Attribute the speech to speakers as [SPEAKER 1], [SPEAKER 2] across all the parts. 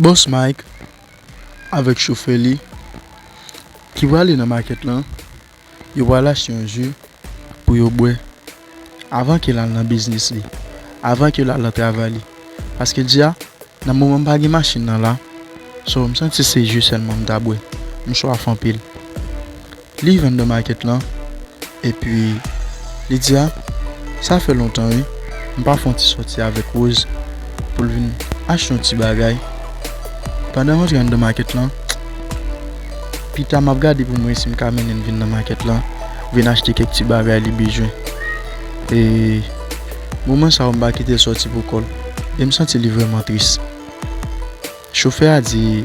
[SPEAKER 1] Boss Mike avèk chofè li ki prale nan makèt lan, yo pral achte yon ju pou yo bwè avan ke l al nan biznis li, avan ke l al nan travay li, paske l di a, nan moman m pa gen machin nan la, so m santi se ju sèlman m ta bwè, m swaf anpil. Li vann nan market lan epi li di a sa fè lontan wi m pa fè yon ti sòti avèk Rose pou l vin achte yon ti bagay pandan m antre anndan market lan pita m ap gade pou m wè si m ka mennen l vin nan market lan vin achte kèk ti bagay li bezwen e moman sa yo m pa kite l sòti pou kò l e m santi li vrèman tris chofè a di.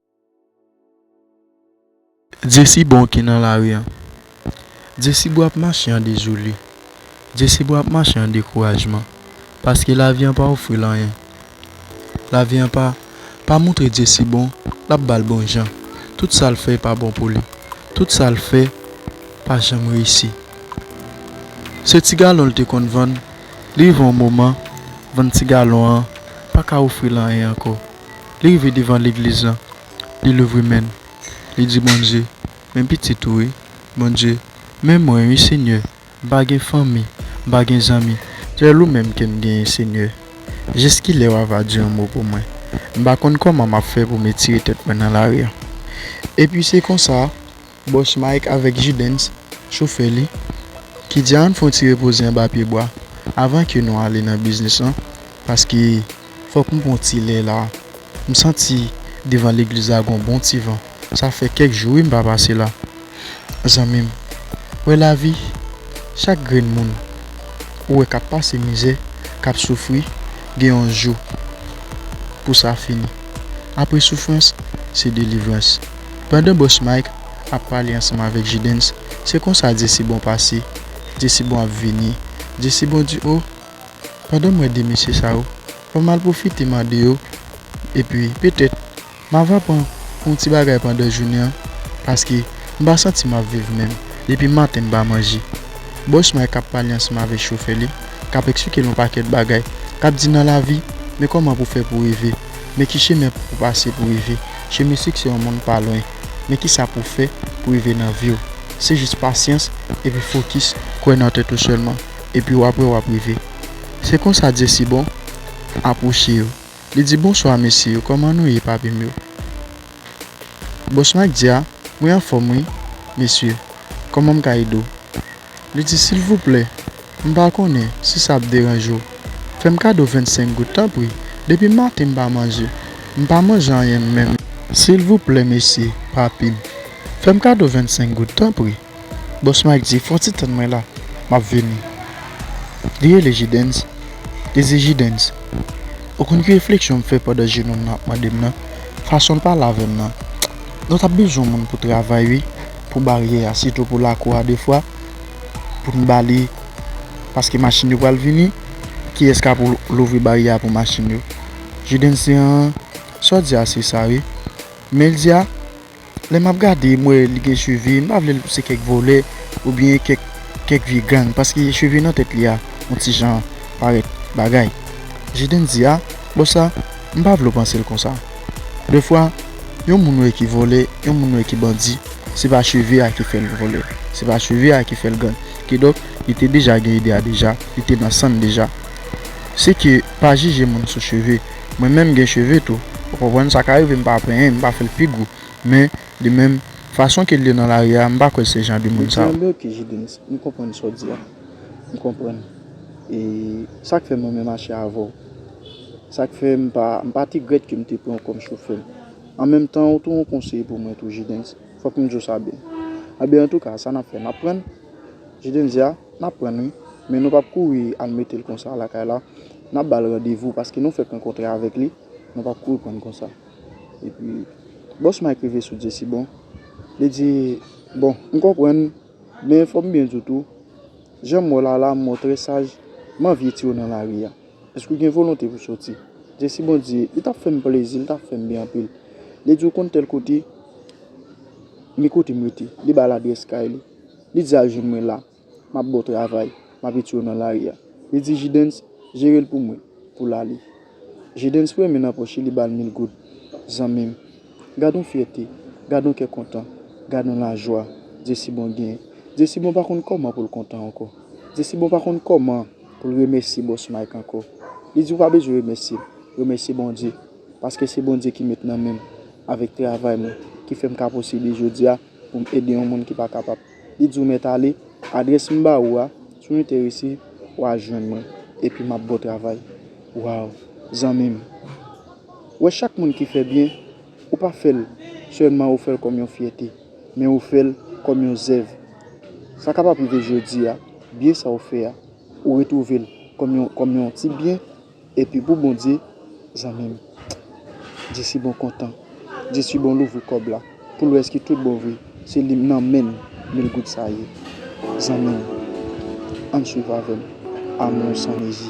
[SPEAKER 1] Dyesibon ki nan lari an Dyesibon ap mache an dezole Dyesibon ap mache an dekourajman Paske lavi an pa ofri l anyen Lavi an pa Pa montre Dyesibon l ap ba l bon jan Tout sa l fè pa bon pou li Tout sa l fè pa janm reyisi Se ti galon l te konn vann Li rive yon moman Vann ti galon an pa ka ofri l anyen ankò Li rive devan legliz lan, li louvri men l, li di Bondye, Men pitit ou wi, Bondye, men mwen wi Senyè, m pa gen fanmi, m pa gen zanmi, sèl ou menm ke m genyen Senyè, jiskilè w a va di yon mo pou mwen, m pa konn kòman m ap fè pou m etire tèt mwen nan lari an. Epi se konsa. Bòs Mike avèk J-Dens, chofè li, ki di ann fon ti repoze anba pye bwa avan ke nou ale nan biznis lan paske fòk m pran ti lè la. M santi devan legliz la gon bon ti van. Sa fè kèk jou wi m pa pase la. Zanmi m, wè lavi, chak grenn moun ou wè k ap pase mizè, k ap soufri, gen yon jou pou sa fini. Apre soufrans, se delivrans. Pandan Boss Mike ap pale ansanm avèk J-Dens, se konsa Jesibon pase, Jesibon ap vini, Jesibon di oh, pandan m wè 2 mesye sa yo, fò m al pwofite mande yo, epi petèt m ava pran yon ti bagay pandan jounen an, paske m pa santi m ap viv menm, depi maten m pa manje. Boss Mike ap pale ansanm avèk chofè li, k ap eksplike l yon pakèt bagay, k ap di nan lavi, men kòman pou w fè pou w rive. Men ki chemen pou ou pase pou rive che men siksè yon moun pa lwen men ki sa pou fè pou rive nan viw se jis pasyans epi fokis kwè nan tèt ou sèlman epi wap wè wap rive se konsa dyesibon apwoche yo li di bonswa mesye yo kòman nou ye papim yo bòs mike di a mwen anfòm wi mesye kòmanm ka ede w. Li di, Silvouplè, m pa konnen si sa ap deranje w, fè m kado vennsenk goud tanpri. Depi maten m pa manje. M pa manje anyen menm. Silvouplè mesye, papi m, fè m kado vennsenk goud tanpri. Bòs Mike di, Fon ti tann mwen la, m ap vini. Li rele Jidenns, li di, Jidenns, ou konn ki refleksyon m fè pandan je nonm nan ap mande m nan, fason l pale avè m nan? Nou t ap bezwen moun pou travay wi. pou baryè a sitou pou lakou a defwa pou n ba li paske machin yo pral vini kiyès kap louvri baryè a pou machin yo Judens di an sa w di a se sa wi men l di a lè map gade m wè li gen cheve m pa vle l se kèk vòlè oubyen kèk kèk vye gang paske cheve nan tèt li a on ti jan parèt bagay Judens di a bon sa M pa vle w panse l konsa. Defwa, yon moun wè ki vòlè, yon moun wè ki bandi, se pa cheve a ki fè l vòlè, se pa cheve a ki fè l gang. Kidonk, li te deja gen ide a deja, li te nan san n deja. Se ke, pa jije moun sou cheve. Mwen menm m gen cheve tou, ou konprann, sa ka rive m pa penyen, m pa fè l pi gou. Men, li menm, fason ke l ye nan lari a, m pa kwè se jan de moun sa yo. Mezanmi ok J-Dens, m konprann sa w di a. M konprann. E, sa k fè mwen menm achte avè w. Sa k fè m pa m pa te grèt ke m te pran w kòm chofè m. An menm tan ou tou yon konseye pou mwen tou Jidenns. Fòk m di w sa byen. Anben antouka sa n ap fè n ap pran? Jidenns, Ya, n ap pran wi. Men nou p ap kouri al mete l konsa lakay la. N ap ba l randevou paske nou fèk rankontre avèk li. Nou p ap kouri pran l konsa. Epi, bòs Mike rive sou Jesi bon. Li di, Bon, m konprann. Men fò m byen di w tou, jan
[SPEAKER 2] m wè w la la m wè w trè saj. M anvye tire w nan lari a. Èske w gen volonte pou soti? Jesi Bondye, li t ap fè m plezi, li t ap fè m byen anpil. Li di, Ou konn tèl kote? Men kote m rete. Li ba l adrès kay li. Li di al jwenn mwen la. M ap ba w travay. M ap itye w nan lari a. Li di Jidens, Jere l pou mwen. Pou l ale. Jidens fouye men nan pòch li, li ba l mil goud. Zanmi m! Gad yon fyète! Gad yon kè kontan! Gad yon lajwa Jesi Bon genyen! Jesi Bon pa konn kòman pou l kontan ankò. Jesi Bon pa konn kòman. pou l remèsye Boss Mike ankò. Li di ou pa bezwen remèsye l, remèsye Bondye, paske se Bondye ki met nan men m avèk travay mwen ki fè m ka posible jodi a pou m ede yon moun ki pa kapab. Li di ou mèt ale, adrès m ba ou a, si w enterese, wa jwenn mwen, epi m ap ba w travay. Waww! Zanmi m, wè chak moun ki fè byen. Ou pa fè l sèlman ou fè l kòm yon fyète, men ou fè l kòm yon zèv. Sa kapab rive jodi a, byen sa ou fè a, ou retwouve l kòm yon ti byen, epi pou Bondye, zanmi m, jesibon kontan, jesibon louvri kòb la pou l wè èske tout bon vre se li nan men l mil goud sa ye. Zanmi m, ann swiv avè m, Amou san mezi.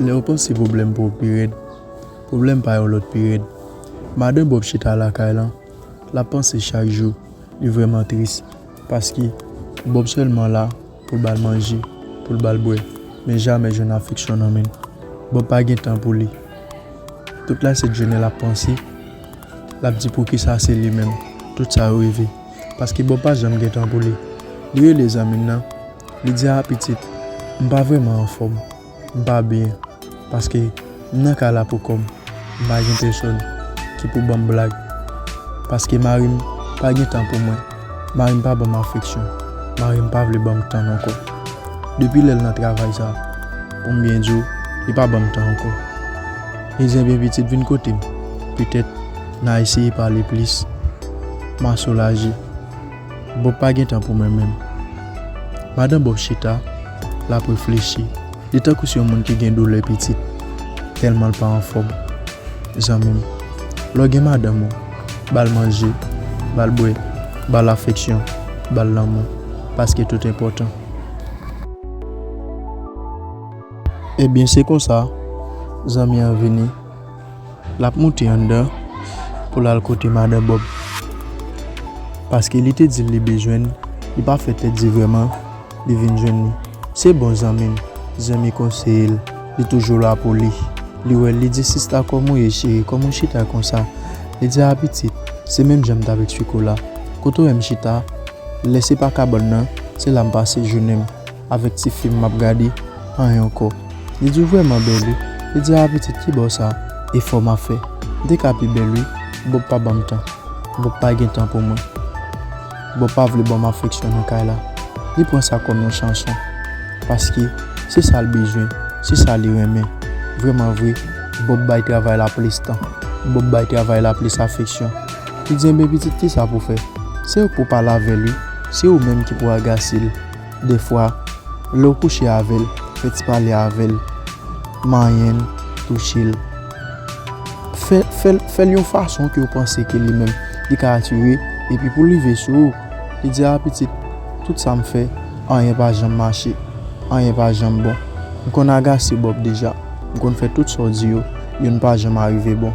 [SPEAKER 1] Lè yo panse pwoblèm pa w pi rèd, pwoblèm pa yon lòt pi rèd. Madan Bòb chita lakay lan, l ap panse chak jou. Li vrèman tris paske Bòb sèlman la pou l ba l manje, pou l ba l bwè, men jamè jwenn afeksyon nan men l. Bòb pa gen tan pou li. Tout lasentjounen l ap panse, l ap di poukisa se li menm tout sa yo rive. paske Bob pa janm gen tan pou li. Li rele zanmi l nan, li di a pitit, m pa vrèman anfòm, m pa byen, paske m nan kay la poukò m, m pa gen pèsòn ki pou ban m blag, paske mari m pa gen tan pou mwen, mari m pa ban m afeksyon, mari m pa vle ban m tan n ankò. Depi lè l nan travay sa, pou m byen di w, li pa ban m tan ankò. Li di, enben pitit vin kote m, petèt. Na eseye pale plis. Ma soulaje. Bòb pa gen tan pou mwen menm. Madan Bòb chita, l ap reflechi. Li tankou s yon moun ki gen doulè pitit, tèlman l pa anfòm. Zanmi m, lè w gen madanm ou, ba l manje, ba l bwè, ba l afeksyon, ba l lanmou, paske tout enpòtan. Ebyen se konsa, zanmi an vini. Lap moute anndan pou lal kote madan Bob. Paske li te dil li bezwenn li pa fè tèt di vrèman li vin jwenn li. Se bon zanmim zanmi konseyel li toujou la pou li. Li wèl li di sista kòm ou ye cheri kòm ou chita konsa. Li di a pitit se menm janm tap eksplike w la. Kote w wèm chita lè se pa kabòn nan se la m pase jounenm. Avèk ti fim map gade anh ankò li di ou vrèman bèl wi li di ah pitit kibò sa efò ma fè m te ka pi bèl wi bob pa banm tan bob pa gen tan pou mwen bob pa vle banm afeksyon nan kay la li pran sa kòm yon chanson paske se sa l bezwen se sa li renmen vrèman vre bob bay travay la plis tan bob bay travay la plis afeksyon li di enben pitit kisa pou fè se ou k pou pale avèl wi se ou menm ki pou agase l. Dèfwa, lè w kouche avè l, fè ti pale avè l, manyen l, touche l. Fè, fè l, fè l yon fason ke w panse ke li menm, li ka atire, epi pou l rive sou ou, li di, a pitit, tout sa m fè, anyen pa janm mache, anyen pa janm bon. M konn agase Bòb deja, m konn fè tout sa w di yo, youn pa janm arive bon.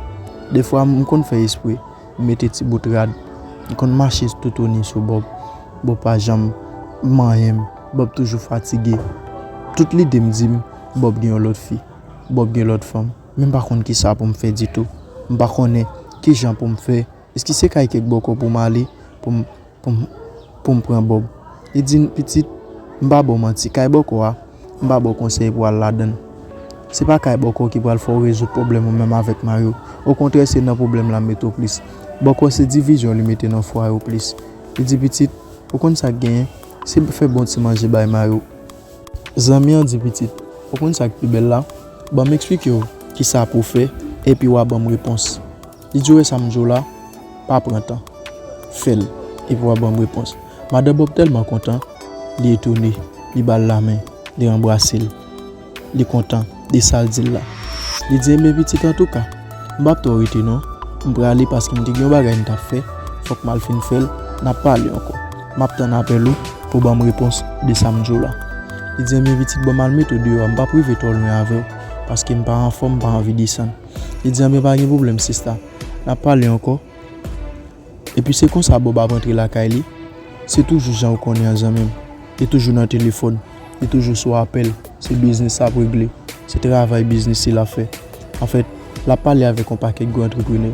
[SPEAKER 1] Dèfwa, m konn fè espre, Li mete ti bout rad. Li konn mache toutouni sou Bòb. Bòb pa janm manyen m. Bòb toujou fatige. Tout
[SPEAKER 2] lide m di m, Bòb gen yon lòt fi. Bòb gen lòt fanm. Men m pa konn ki sa pou m fè ditou. M pa konnen ki jan pou m fè. Èske se kay Kèk Bòkò pou m ale pou m. pou m pran Bòb. Li di m, Pitit, m pa ba w manti, kay bòkò a, m pa ba w konsèy pou w al ladan l. Se pa kay bòkò ki pral fè w rezoud pwoblèm ou menm avèk mari w. Okontrè, se nan pwoblèm l ap mete w plis. Bòkò se divizyon li mete nan fwaye w plis. Li di, Pitit, ou konn sa k genyen, se fè bon ti manje bay mari w. Zanmi an di, Pitit, ou konn sa k pi bèl la? Ban m esplike w ki sa pou w fè, epi w a ban m repons. Li di w wè sa m di w la, pa pran tan. Fè l, epi w ap ban m repons. Madan Bòb tèlman kontan, li etone. Li ba l lamen, li anbrase l. Li kontan de sa l di l la. Li di, Enben pitit, antouka, m pap twò rete non. M prale paske m te gen yon bagay m t ap fè. Fòk m al fin fè l, n ap pale ankò. M ap tann apèl ou pou w ban m repons de sa m di w la. Li di, Enben pitit, ban m al met ou deyò a. M pap rive twò lwen avè w paske m pa anfòm, m pa anvi desann. Li di anben pa gen pwoblèm sista, n ap pale ankò. Epi se konsa Bòb ap antre lakay li. Se toujou jan ou konnen an zanmi m. Li toujou nan telefòn, li toujou sou apèl, se biznis l ap regle, se travay biznis li l ap fè. Anfèt, l ap pale avèk yon pakèt gwo antreprenè.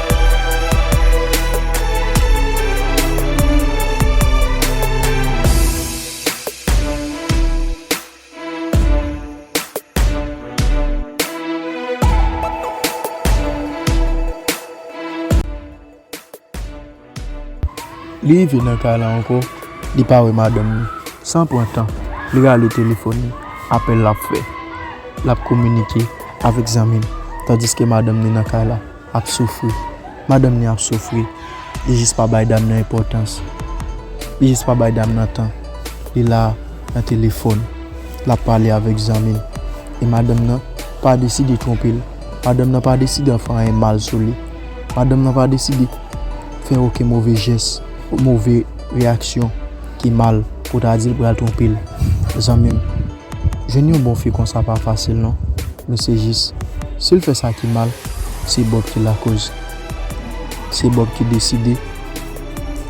[SPEAKER 2] Li rive nan kay la ankò, li pa wè madanm li. San pran tan, li rale telefòn li. Apèl l ap fè, l ap kominike avèk zanmi l tandiske madanm li nan kay la. Ap soufri. Madanm li ap soufri. Li jis pa bay dam nan enpòtans. Li jis pa bay dam nan tan. Li la nan telefòn. L ap pale avèk zanmi l. E madanm nan pa deside twonpe l. Madanm nan pa deside ap fè anyen mal sou li. Madanm nan pa deside fè oken move jès, move reyaksyon ki mal pou ta di l pral twonpe l. Zanmi m. Jwenn yon bon fi konsa pa fasil non men se jis si l fè sa ki mal se Bob ki lakoz se Bob ki deside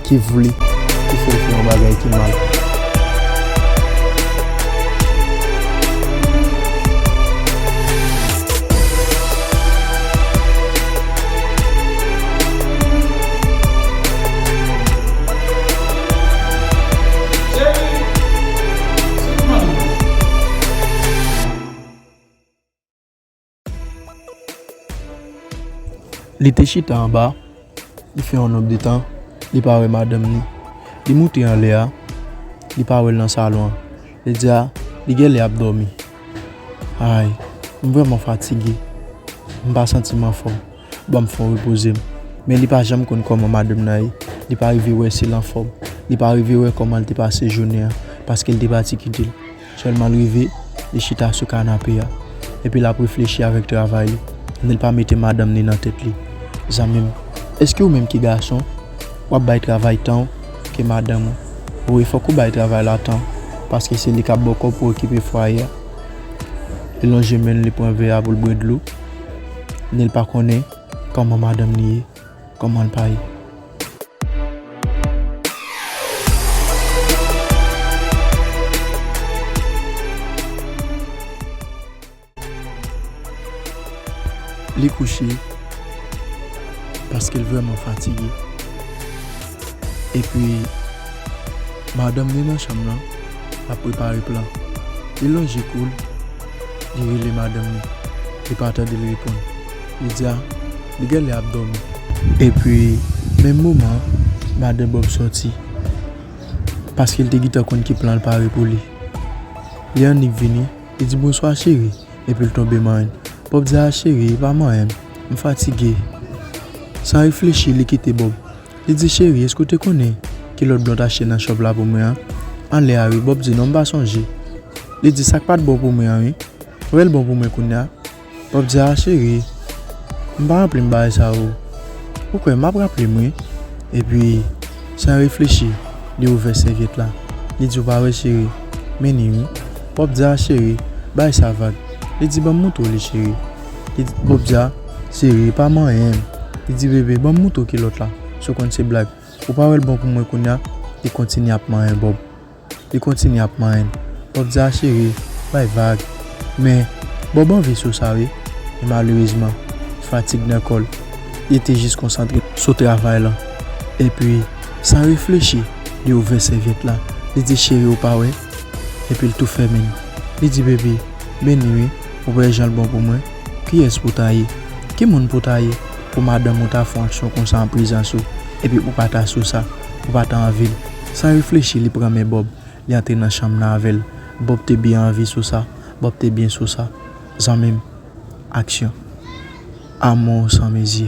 [SPEAKER 2] ki vle ki fè l fè yon bagay ki mal. Li te chita anba, li fè yon nonb de tan, li pa wè madanm ni. Li moute anlè a, li pa wè l nan salon an. Li di a, li gen lè ap dòmi. Ay, m vrèman fatige. M pa santi m anfòm. Banm fon repoze m. Men li pa janm konn kòman madanm nan ye. Li pa rive wè si l anfòm. Li pa rive wè kòman l te pase jounen an paske l te pati kite l. Sèlman l rive, li chita sou kanape a. Epi l ap reflechi avèk travay li. Neel pa mete madanm ni nan tèt li. Zanmi m, èske ou menm ki gason, w ap bay travay tan w ke madanm ou? Wi, fòk ou bay travay la tan w paske se li k ap ba w kòb pou okipe fwaye a. Li lonje men l, li pran vè a pou l bwè dlo. Neel pa konnen kòman madanm li ye, kòman l pa ye. Li kouche paske l vrèman fatige. Epi, madanm li nan chanm lan ap prepare plan. Li lonje kou l. Li rele madanm li. Li pa
[SPEAKER 1] tande l reponn. Li di a, Li gen lè ap dòmi. Epi, menm moman an, madan Bòb soti. Paske l te gentan konn ki plan l pare pou li. Lè annik vini, li di, Bonswa cheri. Epi l tonbe manyen l. Bòb di a, Cheri, pa manyen m. M fatige. San reflechi, li kite Bòb. Li di cheri eske w te konnen kilòt blan w t achte nan shop la pou mwen an anlè a wi Bob di non m pa sonje li di sak pat bon pou mwen an wi fè l bon pou mwen kounya Bob di aa cheri m pa ranpli m bagay sa yo ou kwè map raple m wi epi san reflechi li ouvè sèvyèt la li di ou pa wè cheri meni wi Bob di aa cheri bay sa vag li di banm moutre w li cheri. Li di Bobja, Cheri, e pa manyen m? Li di Bebe, Ban m mouton kilòt la, si w konn se blag. Ou pa wè l bon pou mwen kounya? Li kontinye ap manyen Bob. Li kontinye ap manyen l. Bob di a, Cheri, bay vag. Men, Bob anvi sou sa wi. Men malerezman, fatig nan kò l. Li te jis konsantre sou travay lan. Epi, san reflechi, li ouvè sèvyèt la. Li di, Cheri, ou pa wè? Epi l tou fèmen l. Li di Bebe, Beni wi. Ou wè jan l bon pou mwen? Kiyès pou w ta ye? Ki moun pou w ta ye? Pou madanm ou ta fè yon aksyon konsa an prezans ou, epi ou pa ta sou sa, ou pa ta anvi l. San reflechi li pran men Bòb, li antre nan chanm nan avè l. Bòb te byen anvi sou sa, Bòb te byen sou sa. Zanmi m, aksyon. Amou san mezi.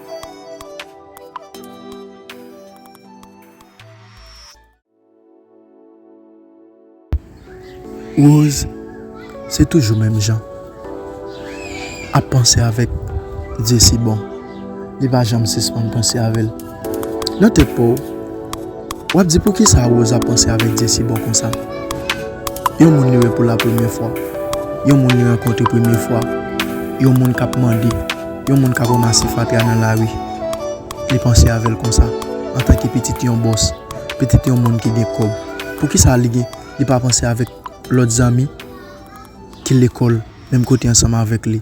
[SPEAKER 1] Rose se toujou menm jan ap panse avèk Dyesibon, li pa janm sispann panse avè l nan tèt pa w. Wap di poukisa Rose ap panse avèk Jessy bon konsa? Yon moun li wè pou la premyè fwa, yon moun li rankontre premye fwa, yon moun kap mande, yon moun kap ranmase fatra nan lari li panse avèl konsa antanke pitit yon bòs, pitit yon moun ki gen kòb poukisa li gen li pa panse avèk lòt zanmi ki lekòl menm kote ansanm avèk li?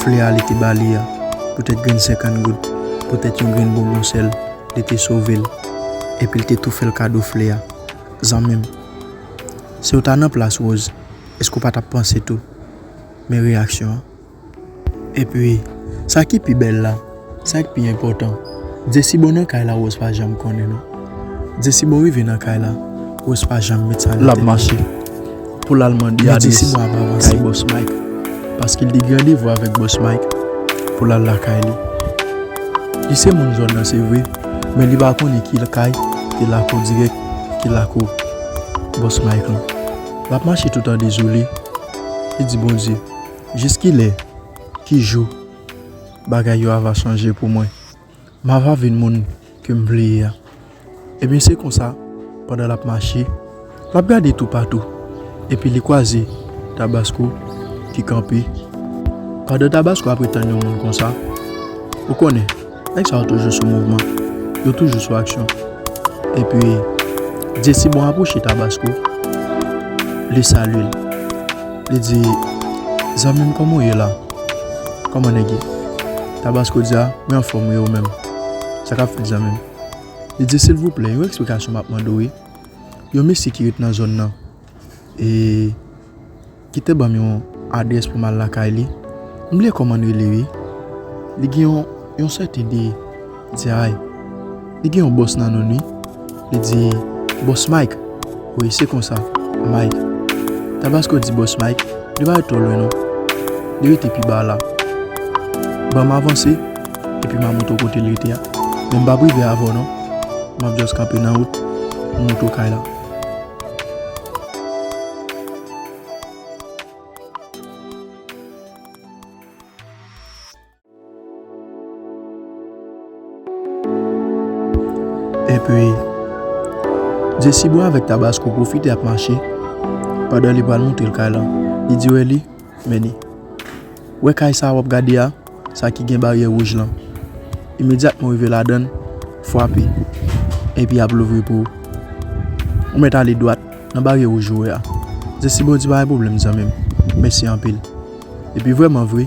[SPEAKER 1] Flè a li te ba li a, poutèt grenn senkann goud, poutèt yon grenn bonbon sèl, li te sove l, epi l te tou fè l kado flè a. Zanmi m, si w ta nan plas Rose, èske w pa t ap panse tou? Men reyaksyon an. Epi, sa ki pi bèl la, Sak pi enpòtan Jesibon nan kay la Rose pa janm konnen non Jesibon rive nan kay la Rose pa janm met sa nan tèt li Lap mache pou lal mande adrès Men Jesibon ap avanse kay bòs Mike paske li gen randevou avèk bòs Mike pou lal lakay li Li se moun zòn nan se vre men li pa konnen ki kay ki lakou dirèk ki lakou bòs Mike lan Lap mache toutan dezole li di Bondye jiskilè ki jou Bagay yo ava chanje pou mwen. M ava vin moun ke m vle ye a. Ebyen se konsa, pandan l ap mache, l ap gade toupatou, epi li kwaze Tabasco ki kanpe. Pandan Tabasco ap ret tann yon moun konsa, ou konnen, nèg sa yo toujou sou mouvman, yo toujou sou aksyon. Epi, Dyesibon apwoche Tabasco, li salye l. Li di, Zanmi m kòman w ye la? Kòman nèg yo? Tabasko di, A, mwen anfòm wi, ou menm? Sa k ap fèt zanmi m? Li di, Silvouplè, yon eksplikasyon m ap mande w wi. Yon mesye ki ret nan zòn nan e ki te ban m yon adrès pou m al lakay li. M bliye kòman l rele wi. Li gen yon sèten de. Li di ay li gen yon bòs nan nonn wi li di bòs mike wi se konsa mike tabasko di bòs mike li pa ret twò lwen non li rete pi ba la banm avanse epi ma montre w kote li rete a men m pap rive avè w non map just kanpe nan wout pou
[SPEAKER 2] m montre w kay la. Epi, Jesibwa avèk Tabasko pwofite ap mache pandan li pral montre l kay lan. Li di Wèli, Men li. Wè kay sa a w ap gade a, sa ki gen baryè wouj lan? Imedyatman w rive ladan l, fwape, epi y ap louvri pou ou. Ou mèt ale dwat nan baryè wouj ou wè a. Jesibwa di, Pa gen pwoblèm zanmi m. Mèsi anpil. Epi vrèmanvre.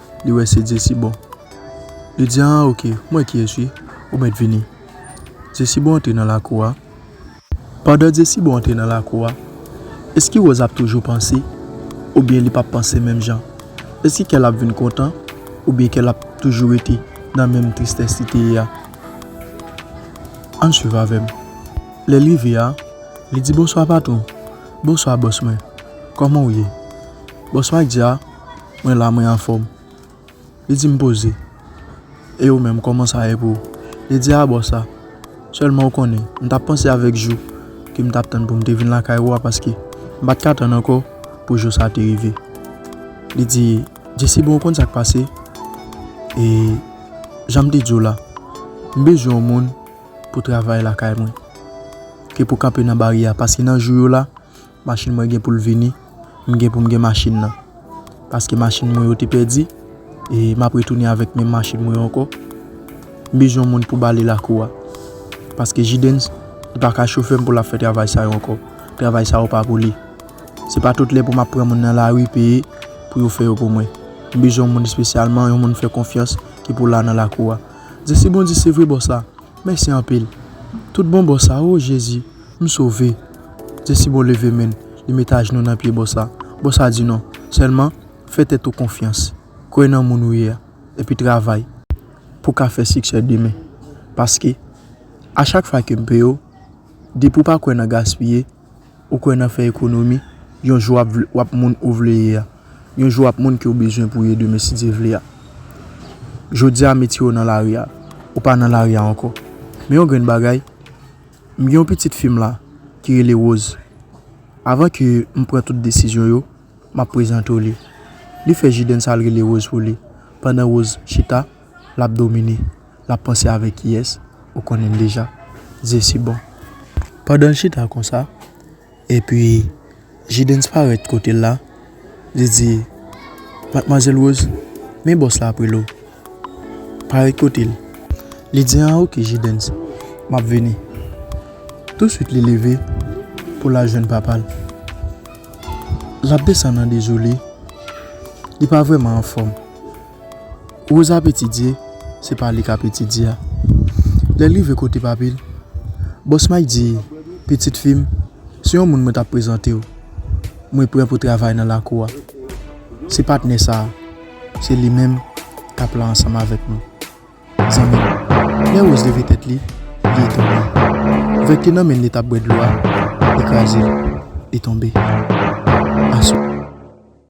[SPEAKER 2] Li wè se Jesibon. Li di, An, ok, m wè kiyès wi. Ou mèt vini. Jesibon antre nan lakou a. Pandan Jesibon antre nan lakou a, èske Wòz ap toujou panse oubyen li p ap panse menm jan? Èske kè l ap vin kontan oubyen kè l ap toujou rete nan menm tristès li te ye a? Ann suiv avè m. Lè l rive a, li di, Bonswa patwon. Bonswa bòs mwen. Kòman ou ye? Bòs Mak di a. Mwen la mwen anfòm. Li di m poze. E ou menm kòman sa ye pou ou? Li di a bon sa. Sèlman ou konnen, m t ap panse avèk jou ke m t ap tann pou m te vin lakay ou a paske m pa t ka tann ankò pou jou sa te rive. Li di, Jesi bon ou konn sa k pase? E jan m te di w la, m bezwen yon moun pou travay lakay mwen ke pou kanpe nan baryè a paske nan jou yo la, Machin mwen gen pou l vini, m gen pou m gen machin nan. Paske machin mwen yo te pèdi, e m ap retounen avèk menm machin mwen yo ankò. M bezwen moun pou bale lakou a. Paske Jidenns, li pa ka chofè m pou l ap fè travay sa yo ankò. Travay sa yo pa pou li. Se pa tout lè pou m ap pran moun nan lari peye pou yo fè yo pou mwen. M bezwen yon moun espesyalman, yon moun m fè konfyans ki pou la nan lakou a. Zesibon di, Se vre bòs la. Mèsi anpil. Toutbon bòs la. O Jezi! M sove. Jesibon leve men l, li met ajnou nan pye Bòsa. Bòsa di non. Sèlman, fè tèt ou konfyans. Kwè nan moun ou ye a. Epi travay. Pou w ka fè siksè demen. Paske, a chak fwa ke m peye w, depi w pa kwè nan gaspiye, ou kwè nan fè ekonomi, yon jou w ap moun ou vle ye a. Yon jou w ap moun ke w bezwen pou w ye demen si Dye vle a. Jodi a, m etire w nan lari a. Ou pa nan lari a ankò. Men yon grenn bagay. M gen yon pitit fi m la ki rele Rose. Avan ke m pran tout desizyon yo, m ap prezante w li. Li fè Jidenn sa l rele Rose pou li. Pandan Rose chita, l ap domine. L ap panse avèk kiyès? Ou konnen l deja. Zesibon. Pandan l chita konsa. Epi, J-Dens parèt kote l la, li di, Matmwazèl Woz, men bòs la ap rele w. Parèt kote l. Li di, An oke, J-Dens, m ap vini. Tousuit li leve pou l al jwenn papa l. L ap desann an dezole, li pa vrèman anfòm. Rosa ap etidye, se pa li k ap etidye a. Lè l rive kote papi l, bòs Mike di, Pitit fi m, se yon moun mwen t ap prezante w. Mwen pran pou travay nan lakou a. Se patnè sa a. Se li menm k ap la ansanm avèk nou. Zanmi m. Lè Rose leve tèt li, li etonne. Vè k te nan men l li t ap bwè dlo a, li kraze l, li tonbe. Aswè.